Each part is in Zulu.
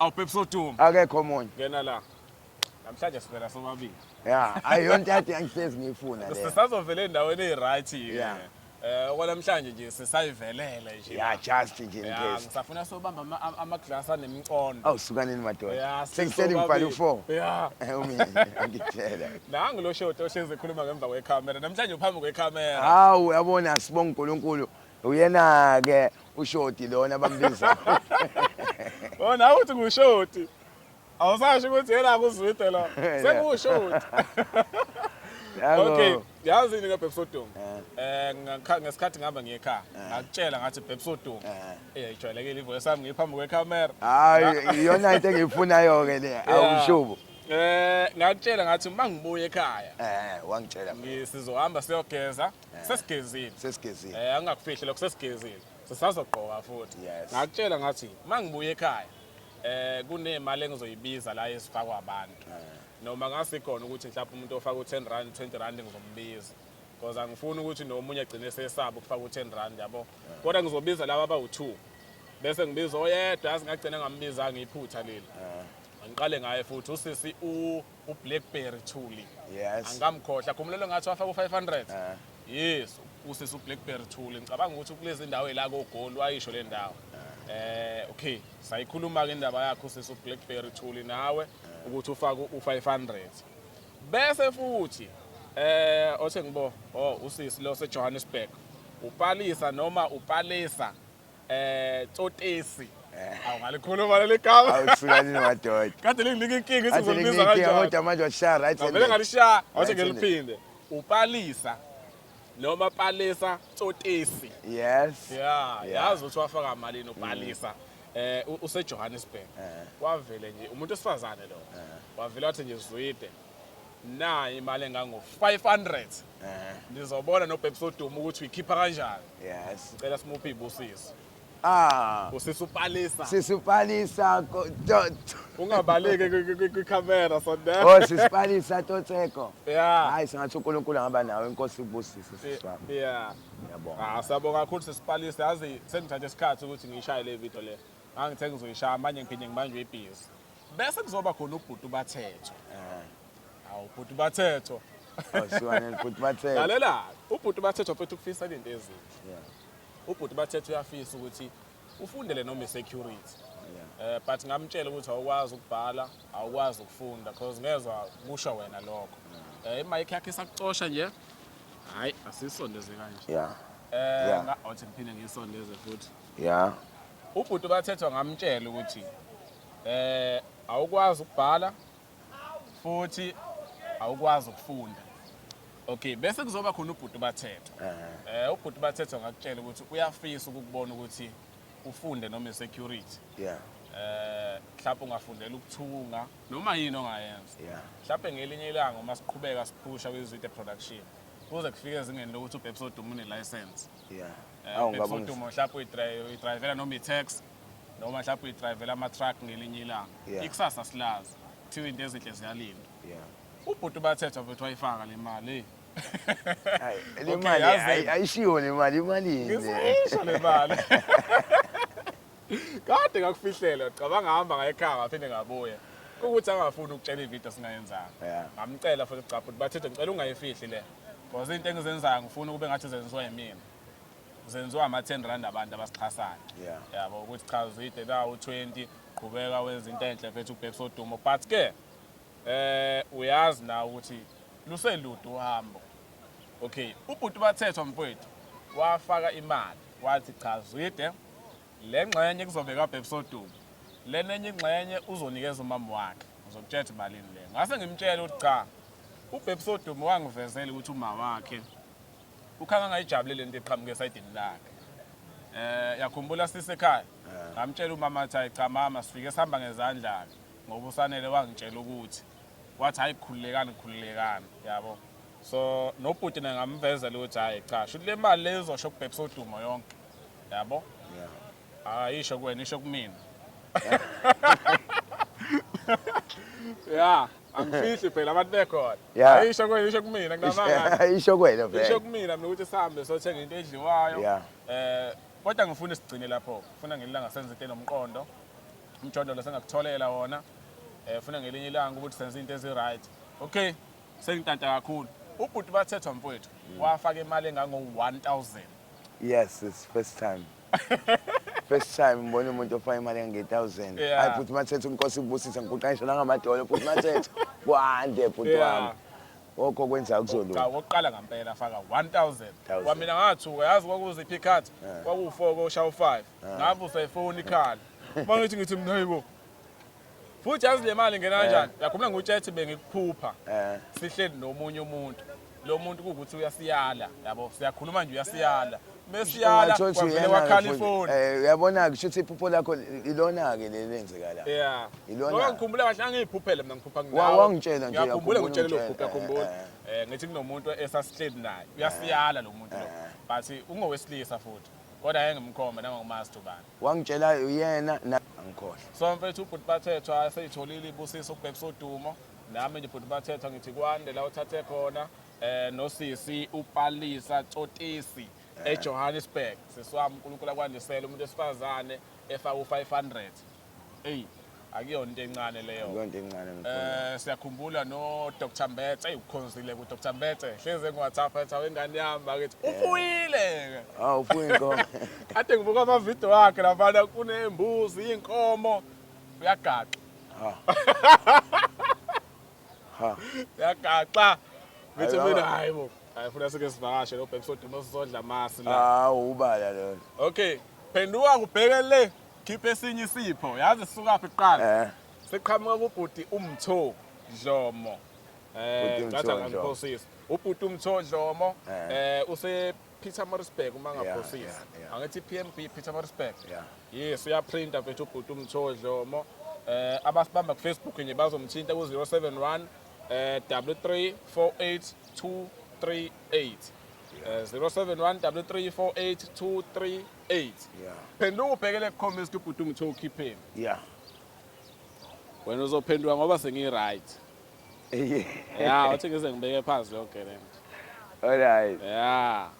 Awu Pepsi oduma. Akekho omunye. Ngena la. Namhlanje sivela sobabili. Yeah, ayiyona into yathi angihlezi ngiyifuna le. Sisazovela endaweni eziryt ke. Yeah. Eh okwanamhlanje nje sisayivelele nje. Yeah, just nje in Yeah, case. ngisafuna sobamba ama- ama- ama-glass anemcondo. Awu sukanini madoda. Yeah, Sengisele ngibhala sobabili. u-four. Yeah. Eh, Umi angitshela. Nangu lo shoti ohlezi ekhuluma ngemva kwekhamera. Namhlanje uphambi kwekhamera. Hawu yabona sibonga uNkulunkulu Uyena ke ushoti lona bambiza. Oh nawe uthi ngushoti. Awusasho ukuthi yena kuzwide lo. Sekushoti. Okay, yazi ni ngebhebsodungu. Eh, eh ngesikhathi ngihamba ngiye ekhaya, eh. ngakutshela ngathi bhebsodungu. Eh, eh ijwayelekile ivoice yami ngiphambi kwecamera. Hayi, iyona into engiyifunayo ke le, awushubo. Eh, ngakutshela ngathi uma ngibuye ekhaya. Eh, wangitshela. Ngisizohamba siyogeza. Eh. sesigezile sesigezile eh angakufihle lokho sesigezile sisazogqoka futhi Yes. ngakutshela ngathi mangibuye ekhaya eh kunemali engizoyibiza la ezifakwa abantu Eh. noma ngasikhona ukuthi mhlawumbe umuntu ofaka u10 rand 20 rand ngizombiza because angifuni ukuthi nomunye agcine sesaba ukufaka u10 rand yabo Eh. kodwa ngizobiza laba abawu2 bese ngibiza oyedwa asingagcina ngambizanga iphutha leli Eh. ngiqale ngaye futhi usisi u ublackberry thuli yes angamkhohla khumulelo ngathi wafaka u500 uh. yes usisi ublackberry thuli ngicabanga ukuthi kulezi ndawo la kogoli wayisho le ndawo uh. eh okay sayikhuluma ke indaba yakho usisi ublackberry thuli nawe uh. ukuthi ufake u500 bese futhi eh othe ngibo oh usisi lo seJohannesburg upalisa noma upalisa Eh Tsotesi. Eh. Awu ngalikhuluma leli gama. Awusukanini madoda. Kade linginika inkinga ukuthi ngizolibiza kanjani. Kodwa manje washaya right. Ngavele ngalishaya, wathi ngiliphinde. Upalisa noma palisa Tsotesi. Yes. Yeah, yazi ukuthi wafaka malini upalisa. Mm. eh useJohannesburg eh. wavele nje umuntu osifazane lo eh. wavele wathi nje zwide nayi imali engango-500 Eh, ndizobona nobhebhisa udumo ukuthi uyikhipha kanjani yes. cela simuphe iy'busiso Ah, usisa upalisa sisipalisa ko- to- to- ungabaleki kwi- kwi- kwi- kwikhamera Oh, sondela sisipalisa totseko. ya Hayi singathi uNkulunkulu angaba nawe inkosi ibusise sisi wami. ya Ngiyabonga. Ah, siyabonga kakhulu sesipalisa yazi sengithathe isikhathi ukuthi ngiyishaye le video le ngangithe ngizoyishaya manje ngiphinde ngibanjwe ibhizi Bese kuzoba khona ubhuti ubathethwa. Eh. Awu ubhuti ubathethwa. Awusiwane oh, ubhuti ubathethwa. Lalela, ubhuti ubathethwa futhi ukufisa into ezinhle. Yeah. Ubhuti ubathethwa uyafisa ukuthi ufundele noma security. Yeah. Eh but ngamtshela ukuthi awukwazi ukubhala, awukwazi ukufunda because ngezwa kusho wena lokho. Eh imike yakhe sakucosha nje. Hayi asisondeze kanje. Yeah. Eh ngathi ngiphinde ngisondeze futhi. Yeah. Ubhuti bathethwa ngamtshela ukuthi Eh awukwazi ukubhala futhi awukwazi ukufunda. Okay, bese kuzoba khona ubhuti bathetho. Eh. eh ubhuti bathetho ngakutshela ukuthi uyafisa ukubona ukuthi ufunde noma insecurity. Yeah. Eh mhlawumbe ungafundela ukuthunga noma yini ongayenza. Yeah. Mhlawumbe ngelinye ilanga uma siqhubeka siphusha kwiZwide production kuze kufike ezingeni lokuthi uBebs Odumo une license. Yeah. Eh, Awu ngabona. Udumo mhlawumbe uyi-drive uyi-drivela noma i-tax. noma mhlawumbe uyidrayivela ama-truck ngelinye ilanga Yeah. ikusasa silazi kuthiwa into ezinhle ziyalinda Yeah. ubhuti ubathethwa futhi wayifaka le mali eyi. Ayi, Okay, le mali yazi- ayi- ayishiwo le mali imalini ngisisho le mali kade ngakufihlela cabanga hamba ngayekhaya ngaphinde ngabuya ukuthi angafuni ukutshela ividiyo singayenzanga Yeah. ngamcela futhi cabha ukuthi bathethe ngicela ungayifihli le because into engizenzayo ngifuna ukube ngathi zenziwa yimina kusenziwa ama-10 rand abantu abasixhasayo Yeah. yabo ukuthi cha uzide nawu-20 qhubeka wenza into enhle mfethu ubhekisa udumo but ke eh uyazi na ukuthi luselude uhambo okay ubhuti bathethwa mfowethu wafaka imali wathi cha zwide le ngxenye kuzobeka ubhekisa udumo lena enye ingxenye uzonikeza umama wakhe uzokutshela ukuthi malini le ngase ngimtshele ukuthi cha ubhekisa udumo wangivezela ukuthi uma wakhe ukhanga ngayijabule lento eqhamuke esayidini lakhe eh yakhumbula sise ekhaya ngamtshela umama athi hayi cha mama sifike sihamba ngezandla ke ngoba usanele wangitshela ukuthi wathi hayi khululekani khululekani yabo so nobhuti naye ngamvezela ukuthi hayi cha shuthi le mali leyizosho kubhekisa udumo yonke yabo ayisho kuwena isho kumina ya angifihli phela abantu bekhona Yeah. ayisho kuwena isho kumina kunamanga isho kwena isho vele kumina mina ukuthi sihambe sothenga into edliwayo Yeah. eh kodwa ngifuna sigcine lapho ngifuna ngelinye ilanga senze into enomqondo umjondolo sengakutholela wona eh ngifuna ngelinye ilanga ukuthi senze into ezi-right okay sengitanta kakhulu ubhuti bathethwa mfowethu wafaka imali engango-1000 yes it's first time first time ngibona umuntu ofaka imali engange-thousand Yeah. hayi futhi mathetha unkosi kubusise ngikuqanisha nangamadolo futhi mathetha kwande futhi Yeah. wami okho kwenza kuzolunga Cha, wokuqala ngampela afaka 1000 Thousand. kwamina ngathuka yazi kwakuziphi ikhathi kwakuwu-4 koshaya u-5 ngavusa ifoni ikhala uma ngithi ngithi mna yibo Futhi yazi le mali ingena kanjani? Yakhuluma ngutshetse bengikuphupha. Eh. Sihleli nomunye umuntu. Lo muntu kuwukuthi uyasiyala, yabo. Siyakhuluma nje uyasiyala. Mesiyala Ungatsho ukuthi kwavele uyena-ke wakhala futhi. ifoni. Eh, uyabona-ke kusho ukuthi iphupho lakho ilona-ke leli lenzeka la Yeah. Ilona. Ngoba ngikhumbula kahle angiyiphuphele mina ngiphupa Wa- ngawe. wangitshela nje, Ngiyakhumbula yakhumbula ngitshele lokhu, ungitshela, ngiyakhumbula. eh, Eh ngithi kunomuntu esasihleli naye. Uyasiyala lo muntu lo. Eh. But ungowesilisa futhi. Kodwa yayengimkhomba nangokumazi ubani. Wangitshela uyena na angikhohlwa. So mfethu ubhuti bathethwa eseyitholile ibusiso ukubhekisa udumo. Nami nje bhuti bathethwa ngithi kwande la uthathe khona eh nosisi upalisa tsotisi eJohannesburg. Sisi wami uNkulunkulu akwandisele umuntu wesifazane efaka u500. Ey akuyona into encane leyo akuyona into encane eh siyakhumbula no Dr Mbetse ayikukhonzile ku Dr Mbetse hleze ngiwathatha ethi awengane yami bakithi eh. ufuyile ah ufuye inkomo kade ngibuka ama video wakhe labana kunembuzi inkomo uyagaxa ha ha uyagaxa ngithi mina hayi bo ayifuna sike sivakashe lo bhekisodwa nosizodla masi la hawu ubala lona okay phenduka ngubheke le Khipha esinye isipho. Yazi sisukaphi kuqala? Eh. Siqhamuka kubhuti uMtho Dlomo. Eh, ngathi angiphosisi. Ubhuti uMtho Dlomo eh, eh use Peter Morisberg uma ngaphosisi. Angithi PMB Peter Morisberg. Yes, uyaprinta mfethu ubhuti uMtho Dlomo. Eh abasibamba ku Facebook nje bazomthinta ku 071 eh 3348238. 071 3348238 eight yeah. phenduka ubhekele kucomment ukuthi ubhuti umthe ukhipheni yeah. wena uzophenduka ngoba sengi-right yeah. ya uthi ngize ngibeke phansi leyo gerent alright ya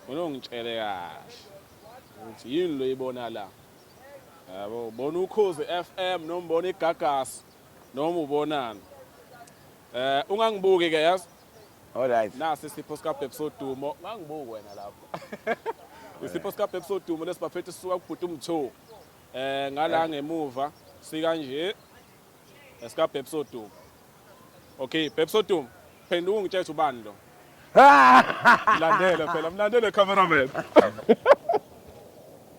unongitshele kahle ukuthi yini lo yibona la yabo ubona ukhozi FM noma ubona igagasi noma ubonani eh ungangibuki ke yazi Alright. Nasi isipho sikabhebhi sodumo. Ngangibuki wena lapho. Isipho sikabhebhi sodumo lesibaphethe sisuka kubhuti umtho. Eh ngala eh. ngemuva sika nje esika bhebhi sodumo. Okay, bhebhi sodumo. Phenduka ungitshela ubani lo. Landele phela, mlandele cameraman.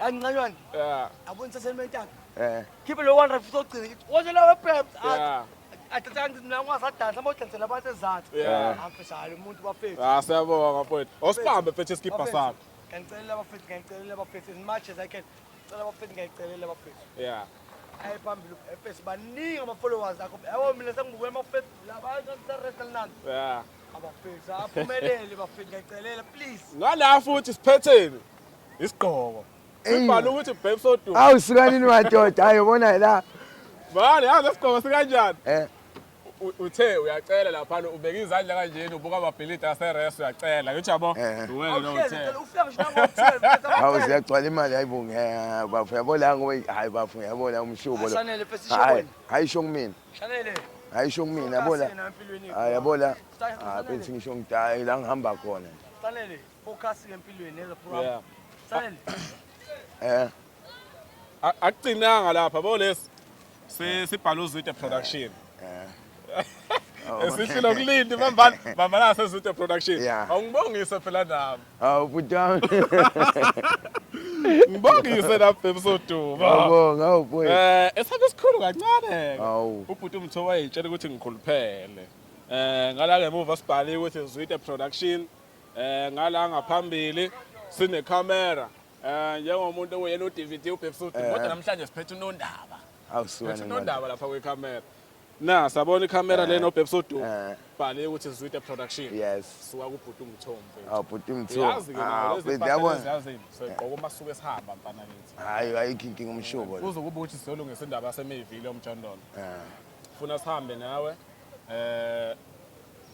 Angincanywana. Yeah. Abona saseni mentaka. Eh. Khiphe lo 100 futhi ogcina kithi. Wona lawe peps. Yeah. Athatha ngithi mina ngwasadansa mawudansela abantu ezathu. Yeah. Afishayo umuntu bafethu. Ah siyabonga mfowethu. Osibambe phethe isikipha sakho. Ngicelela abafethu, ngicelela abafethu as much as I can. Ngicela abafethu ngicelela abafethu. Yeah. Ayi phambili ubefethu baningi ama followers akho. Yabo mina sengibuke ama fethu labantu sa restaurant. Yeah. Abafethu aphumelele bafethu ngicelela please. Ngala futhi siphetheni. Isigqoko. Sibhala ukuthi babes odumo. Awu sukanini madoda, hayi ubona la. Manje yazi lesigqoko sikanjani? Eh. Uthe uyacela lapha ubeka izandla kanjeni ubuka amabhilidi aseres uyacela. Ngithi yabo. Eh. Uwena lo uthe. Ufika ngisho ngo-12. Hawu siyagcwala imali hayi bo ngeke bafo yabo la ngoba hayi bafo yabo la umshubo lo. Shanele fesi shobona. Hayi sho kumina. Shanele. Hayi sho kumina yabo la. Hayi yabo la. Hayi ah, benthi ngisho ngidaya la ngihamba khona. Shanele. Focus empilweni as a pro. Yeah. Sale. Eh. A- Akucinanga lapha bo lesi. Si sibhala uzwide production. Eh. Esihle lokulindi bambana bambana sezwide production. Yeah. Awungibongise phela nami. Awu bhuti wami. Ngibongise lapha bebusoduma. Ngiyabonga, awu boy. Eh, esakhe sikhulu kancane. Awu. Ubhuti umthowa yitshela ukuthi ngikhuluphele. Eh, ngala ngemuva sibhaliwe ukuthi Zwide Production. Eh ngala ngaphambili sine camera. Eh njengomuntu oyena uDVD ubhekisa ukuthi kodwa namhlanje siphethe unondaba. Awusuka Phethe unondaba lapha kwe camera. Na sabona ikhamera lena obhebisa udu. Bhale ukuthi Zwide production. Yes. Suka kubhuti umthombe. Aw bhuti umthombe. Yazi ke nawo lezi yabona. Yazi so igqoko masuke sihamba mfana ngithi. Hayi ayikho inkinga umshubo. Uzokuba uthi siyolungisa indaba yasemevile omjondolo. Eh. Funa sihambe nawe. Eh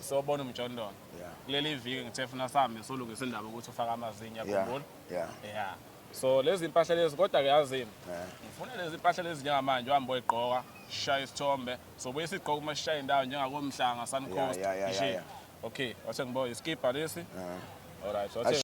sobona umjondolo Yeah. kuleli viki ngithe funa sihambe solungisa indaba ukuthi ufake amazinyo Yeah, yakhumbula yeah. yeah so lezi mpahla lezi kodwa ke yazini Yeah. ngifuna lezi mpahla lezi njengamanje uhambe oyigqoka shaya isithombe sobuye sigqoka uma sishaya indawo njengakomhlanga sun Yeah, coast yeah, yeah, nje. yeah, yeah. okay wathe ngibo iskibha lesi Yeah. alright wathe